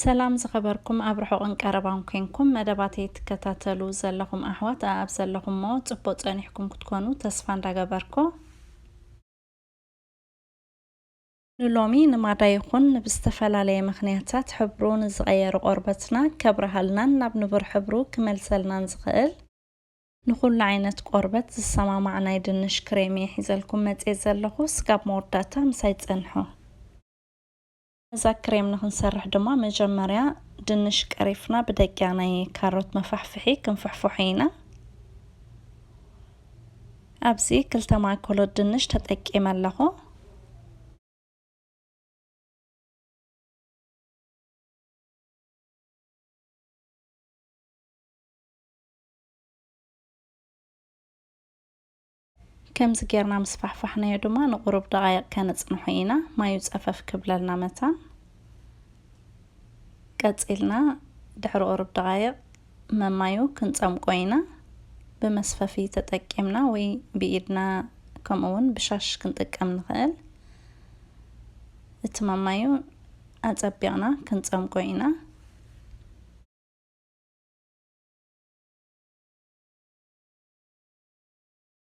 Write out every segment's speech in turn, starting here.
ሰላም ዝኸበርኩም ኣብ ርሑቕን ቀረባን ኮንኩም መደባተይ ትከታተሉ ዘለኹም ኣሕዋት ኣኣብ ዘለኹሞ ጽቡቕ ጸኒሕኩም ክትኮኑ ተስፋ እንዳገበርኩ ንሎሚ ንማዳ ይኹን ንብዝተፈላለየ ምኽንያታት ሕብሩ ንዝቐየሩ ቆርበትና ከብርሃልናን ናብ ንቡር ሕብሩ ክመልሰልናን ዝኽእል ንኹሉ ዓይነት ቆርበት ዝሰማማዕ ናይ ድንሽ ክሬም እየ ሒዘልኩም መጽየ ዘለኹ ስጋብ መወዳእታ ምሳይ ጸንሑ። ነዛ ክሬም ንክንሰርሕ ድማ መጀመርያ ድንሽ ቀሪፍና ብደቂቅ ናይ ካሮት መፋሕፍሒ ክንፍሕፎሖ ኢና። ኣብዚ ክልተ ማእከሎት ድንሽ ተጠቂመ ኣለኹ። ከምዚ ጌርና ምስ ፋሕፋሕናዮ ድማ ንቑሩብ ደቓይቕ ከነጽንሖ ኢና፣ ማዩ ጸፈፍ ክብለልና መታን። ቀጺልና ድሕሪ ቑሩብ ደቓይቕ መማዩ ክንጸምቆ ኢና፣ ብመስፈፊ ተጠቂምና ወይ ብኢድና ከምኡ ውን ብሻሽ ክንጥቀም ንኽእል። እቲ መማዩ ኣጸቢቕና ክንጸምቆ ኢና።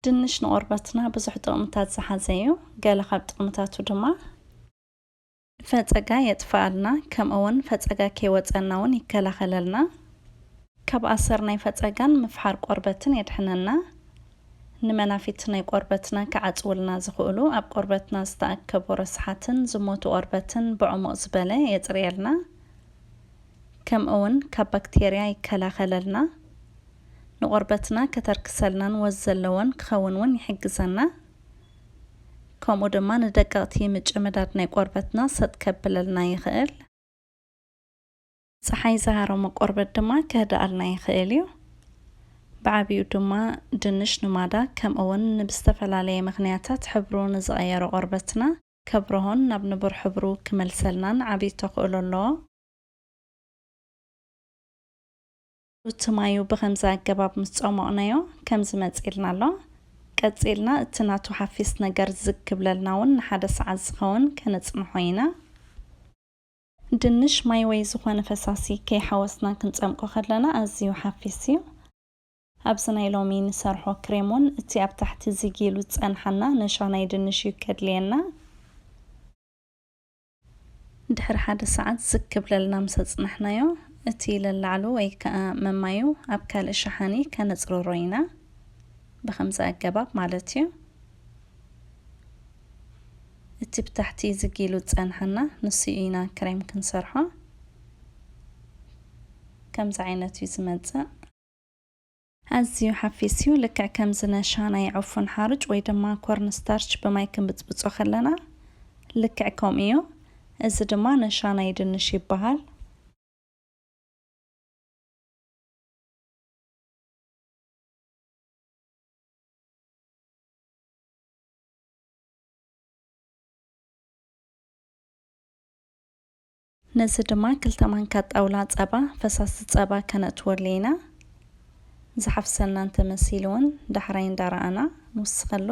ድንሽ ንቆርበትና ብዙሕ ጥቕምታት ዝሓዘ እዩ። ገለ ካብ ጥቕምታቱ ድማ። ፈፀጋ የጥፍኣልና ከምኡ ውን ፈፀጋ ከይወፀና ውን ይከላኸለልና። ካብ ኣሰር ናይ ፈፀጋን ምፍሓር ቆርበትን የድሕነና። ንመናፊት ናይ ቆርበትና ክዓፅውልና ዝኽእሉ ኣብ ቆርበትና ዝተኣከቡ ረስሓትን ዝሞቱ ቆርበትን ብዕሙቕ ዝበለ የፅርየልና። ከምኡ ውን ካብ ባክቴርያ ይከላኸለልና። ንቆርበትና ከተርክሰልናን ወዝ ዘለዎን ክኸውን እውን ይሕግዘና ከምኡ ድማ ንደቀቕቲ ምጭምዳድ ናይ ቆርበትና ሰጥ ከብለልና ይኽእል። ጸሓይ ዝሃረሞ ቆርበት ድማ ከህድኣልና ይኽእል እዩ። ብዓቢኡ ድማ ድንሽ ንማዳ ከምኡ እውን ንብዝተፈላለየ ምኽንያታት ሕብሩ ንዝቐየሮ ቆርበትና ከብርሆን ናብ ንቡር ሕብሩ ክመልሰልናን ዓቢ ተኽእሎ ኣለዎ። እቲ ማዩ ብኸምዚ ኣገባብ ምስ ጸሞቕናዮ ከምዚ መጺልና ኣሎ። ቀጺልና እቲ ናቱ ሓፊስ ነገር ዝግ ክብለልና ውን ንሓደ ሰዓት ዝኸውን ከነጽንሖ ኢና። ድንሽ ማይ ወይ ዝኾነ ፈሳሲ ከይሓወስና ክንጸምቆ ከለና ኣዝዩ ሓፊስ እዩ። ኣብዚ ናይ ሎሚ ንሰርሖ ክሬም ውን እቲ ኣብ ታሕቲ ዝግ ኢሉ ዝጸንሓና ነሻ ናይ ድንሽ እዩ ከድልየና። ድሕሪ ሓደ ሰዓት ዝግ ክብለልና ምስ ኣጽናሕናዮ፣ እቲ ለላዕሉ ወይ ከኣ መማዩ ኣብ ካልእ ሸሓኒ ከነጽርሮ ኢና። ብኸምዚ ኣገባብ ማለት'ዩ። እቲ ብታሕቲ ዝግ ኢሉ ዝጸንሓና ንሱ'ዩ ኢና ክሬም ክንሰርሖ። ከምዚ ዓይነት'ዩ ዝመጽእ። ኣዝዩ ሓፊስ'ዩ፣ ልክዕ ከምዚ ነሻ ናይ ዕፉን ሓሩጭ ወይ ድማ ኮርን ስታርች ብማይ ክንብጽብጾ ከለና ልክዕ ከምኡ'ዩ፣ እዚ ድማ ነሻ ናይ ድንሽ ይበሃል። ነዚ ድማ ክልተ ማንካ ጣውላ ጸባ፣ ፈሳሲ ጸባ፣ ከነእትወሉ ኢና። ዝሓፍሰና እንተ መሲሉውን ዳሕራይ እንዳረኣና ንውስኸሉ።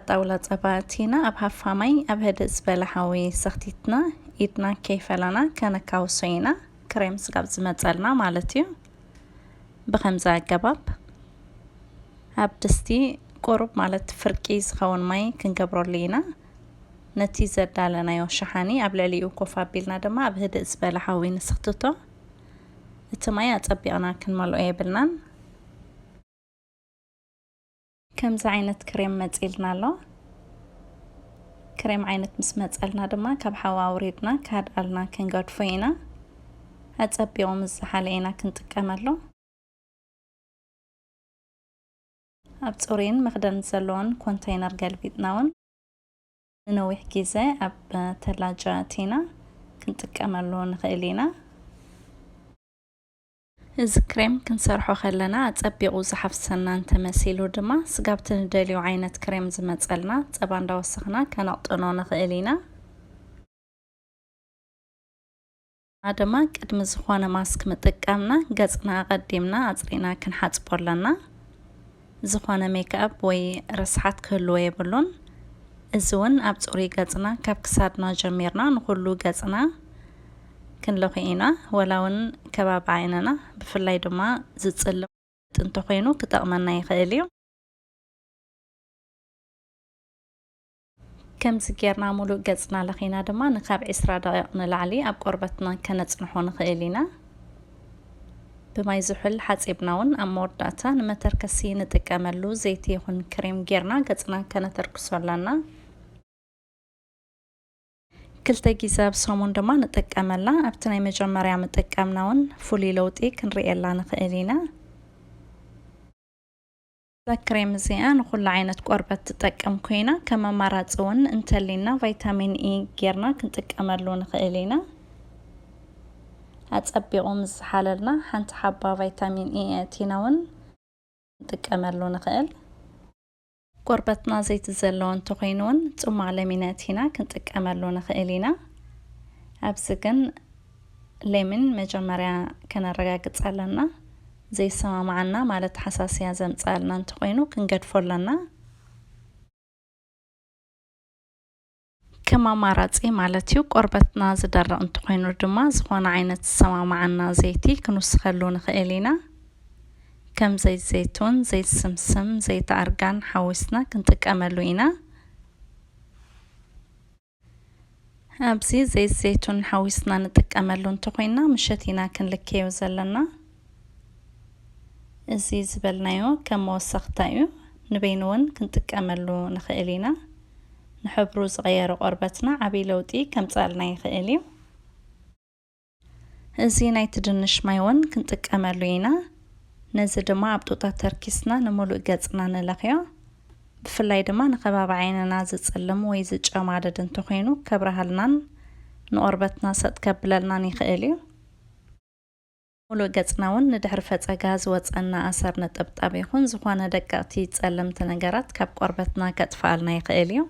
ጣውላ ጸባ ኣእቲና ኣብ ሃፋ ማይ ኣብ ህድእ ዝበለ ሓዊ ሰኽቲትና ኢድና ከይፈላና ከነካውሶ ኢና፣ ክሬም ስጋብ ዝመጸልና ማለት እዩ። ብኸምዚ ኣገባብ ኣብ ድስቲ ቁሩብ ማለት ፍርቂ ዝኸውን ማይ ክንገብረሉ ኢና ነቲ ዘዳለናዮ ሸሓኒ ኣብ ልዕሊኡ ኮፍ ኣቢልና ድማ ኣብ ህድእ ዝበለ ሓዊ ንስኽትቶ እቲ ማይ ኣጸቢቕና ክንመልኦ የብልናን ከምዚ ዓይነት ክሬም መጺልና ኣሎ። ክሬም ዓይነት ምስ መጸልና ድማ ካብ ሓዊ ኣውሪድና ካድኣልና ክንገድፎ ኢና። ኣጸቢቑ ምስ ዝሓለ ኢና ክንጥቀመሉ። ኣብ ጽሩይን መኽደን ዘለዎን ኮንተይነር ገልቢጥና እውን ንነዊሕ ግዜ ኣብ ተላጃ እቲና ክንጥቀመሉ ንኽእል ኢና። እዚ ክሬም ክንሰርሖ ከለና ኣጸቢቑ ዝሓፍሰና እንተመሲሉ ድማ ስጋብቲ ንደልዮ ዓይነት ክሬም ዝመጸልና ጸባ እንዳወሰኽና ከነቕጥኖ ንኽእል ኢና። ድማ ቅድሚ ዝኾነ ማስክ ምጥቃምና ገጽና ኣቐዲምና ኣጽሪና ክንሓጽቦ ኣለና። ዝኾነ ሜክኣፕ ወይ ርስሓት ክህልዎ የብሉን። እዚ እውን ኣብ ፅሩይ ገፅና ካብ ክሳድና ጀሚርና ንኹሉ ገፅና ክንለኹ ኢና። ወላ እውን ከባቢ ዓይንና ብፍላይ ድማ ዝፅልም እንተኾይኑ ክጠቕመና ይኽእል እዩ። ከምዚ ጌርና ሙሉእ ገጽና ለኺና ድማ ንካብ ዕስራ ደቒቕ ንላዕሊ ኣብ ቆርበትና ከነጽንሖ ንኽእል ኢና። ብማይ ዝሑል ሓጺብና ውን ኣብ መወዳእታ ንመተርከሲ ንጥቀመሉ ዘይቲ ይኹን ክሬም ጌርና ገጽና ከነተርክሶ ኣለና። ክልተ ግዜ ኣብ ሰሙን ድማ ንጥቀመላ። ኣብቲ ናይ መጀመርያ ምጥቃምና ውን ፍሉይ ለውጢ ክንርእየላ ንኽእል ኢና። እዛ ክሬም እዚኣ ንኹሉ ዓይነት ቆርበት ትጠቅም ኮይና ከም ኣማራፂ እውን እንተሊና ቫይታሚን ኢ ጌርና ክንጥቀመሉ ንኽእል ኢና። ኣፀቢቑ ምስ ዝሓለልና ሓንቲ ሓባ ቫይታሚን ኢ ኣእቲና እውን ክንጥቀመሉ ንኽእል። ቆርበትና ዘይቲ ዘለዎ እንተኾይኑ እውን ፅሟቕ ለሚን ኣእቲና ክንጥቀመሉ ንኽእል ኢና። ኣብዚ ግን ሌሚን መጀመርያ ከነረጋግጽ ኣለና ዘይሰማማዓና ማለት ሓሳስያ ዘምጽኣልና እንተኾይኑ ክንገድፎ ኣለና። ከም ኣማራጺ ማለት እዩ። ቆርበትና ዝደርቕ እንተኾይኑ ድማ ዝኾነ ዓይነት ዝሰማማዓና ዘይቲ ክንውስኸሉ ንኽእል ኢና። ከም ዘይት ዘይቱን፣ ዘይት ስምስም፣ ዘይት ኣርጋን ሓዊስና ክንጥቀመሉ ኢና። ኣብዚ ዘይት ዘይቱን ሓዊስና ንጥቀመሉ እንተኾይና ምሸት ኢና ክንልከዮ ዘለና እዚ ዝበልናዮ ከም መወሰኽታ እዩ ንበይኑ እውን ክንጥቀመሉ ንኽእል ኢና ንሕብሩ ዝቐየረ ቆርበትና ዓብዪ ለውጢ ከምፅኣልና ይኽእል እዩ እዚ ናይቲ ድንሽ ማይ እውን ክንጥቀመሉ ኢና። ነዚ ድማ ኣብ ጡጣ ተርኪስና ንሙሉእ ገጽና ንለኽዮ። ብፍላይ ድማ ንከባቢ ዓይንና ዝጽልም ወይ ዝጨማደድ እንተኾይኑ ከብርሃልናን ንቆርበትና ሰጥ ከብለልናን ይኽእል እዩ። ሙሉእ ገጽና እውን ንድሕሪ ፈጸጋ ዝወጸና ኣሰር ነጠብጣብ ይኹን ዝኾነ ደቀቕቲ ጸለምቲ ነገራት ካብ ቆርበትና ከጥፍኣልና ይኽእል እዩ።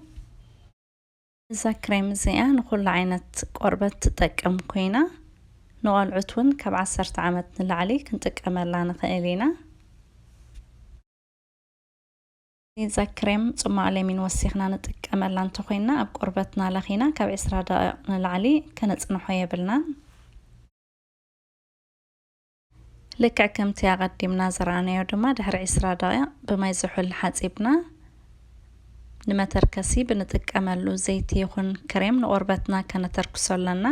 እዛ ክሬም እዚኣ ንኹሉ ዓይነት ቆርበት ትጠቅም ኮይና ንቖልዑት ውን ካብ ዓሰርተ ዓመት ንላዕሊ ክንጥቀመላ ንኽእል ኢና። እዛ ክሬም ጽሟቕ ለሚን ወሲኽና ንጥቀመላ እንተኾይንና ኣብ ቆርበትና ለኺና ካብ ዕስራ ደቒቕ ንላዕሊ ከነጽንሖ የብልናን። ልክዕ ከምቲ ኣቐዲምና ዝረኣናዮ ድማ ድሕሪ ዕስራ ደቒቕ ብማይ ዝሑል ሓጺብና ንመተርከሲ ብንጥቀመሉ ዘይቲ ይኹን ክሬም ንቆርበትና ከነተርክሶ ኣለና።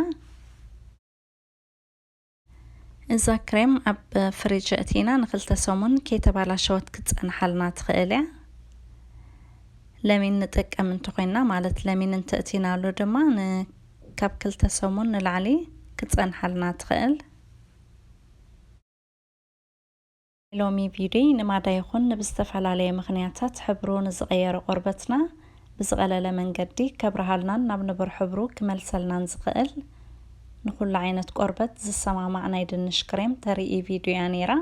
እዛ ክሬም ኣብ ፍሪጅ ኣእቲና ንክልተ ሰሙን ከይተባላሸወት ክትጸንሓልና ትኽእል እያ። ለሚን ንጥቀም እንተኾይና ማለት ለሚን እንተእቲናሉ ድማ ካብ ክልተ ሰሙን ንላዕሊ ክትጸንሓልና ትኽእል። ናይ ሎሚ ቪድዮይ ንማዳ ይኹን ንብዝተፈላለየ ምኽንያታት ሕብሩ ንዝቐየረ ቆርበትና ብዝቐለለ መንገዲ ከብርሃልናን ናብ ንቡር ሕብሩ ክመልሰልናን ዝኽእል ንኹሉ ዓይነት ቆርበት ዝሰማማዕ ናይ ድንሽ ክሬም ተርኢ ቪድዮ እያ ነይራ።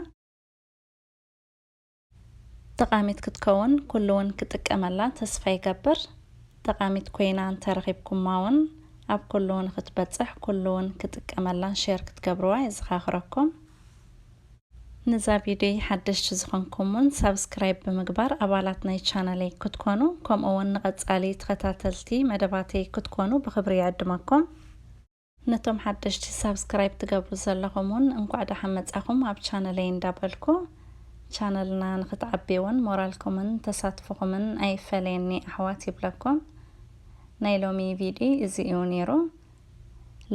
ጠቃሚት ክትከውን ኩሉ ውን ክጥቀመላ ተስፋ ይገብር ጠቃሚት ኮይና እንተረኪብኩማ ውን ኣብ ኩሉ ውን ክትበጽሕ ኩሉ ውን ክጥቀመላን ሼር ክትገብርዋ የዘካክረኩም ንዛ ቪድዮይ ሓደሽቲ ዝኮንኩም ውን ሳብስክራይብ ብምግባር ኣባላት ናይ ቻነለይ ክትኮኑ ከምኡ ውን ንቀጻሊ ተከታተልቲ መደባተይ ክትኮኑ ብክብሪ ይዕድመኩም። ነቶም ሓደሽቲ ሳብስክራይብ ትገብሩ ዘለኹም ውን እንኳዕ ደሓን መጻኹም ኣብ ቻነለይ እንዳበልኩ ቻነልና ንክትዓቢ ውን ሞራልኩምን ተሳትፎኹምን ኣይፈለየኒ ኣሕዋት ይብለኩም። ናይ ሎሚ ቪድዮ እዚ እዩ ኔሩ።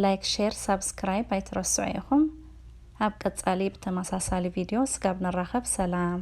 ላይክ ሼር ሳብስክራይብ ኣይትረስዑ ኢኹም። ኣብ ቀጻሊ ብተመሳሳሊ ቪድዮ ስጋብ ንራኸብ ሰላም።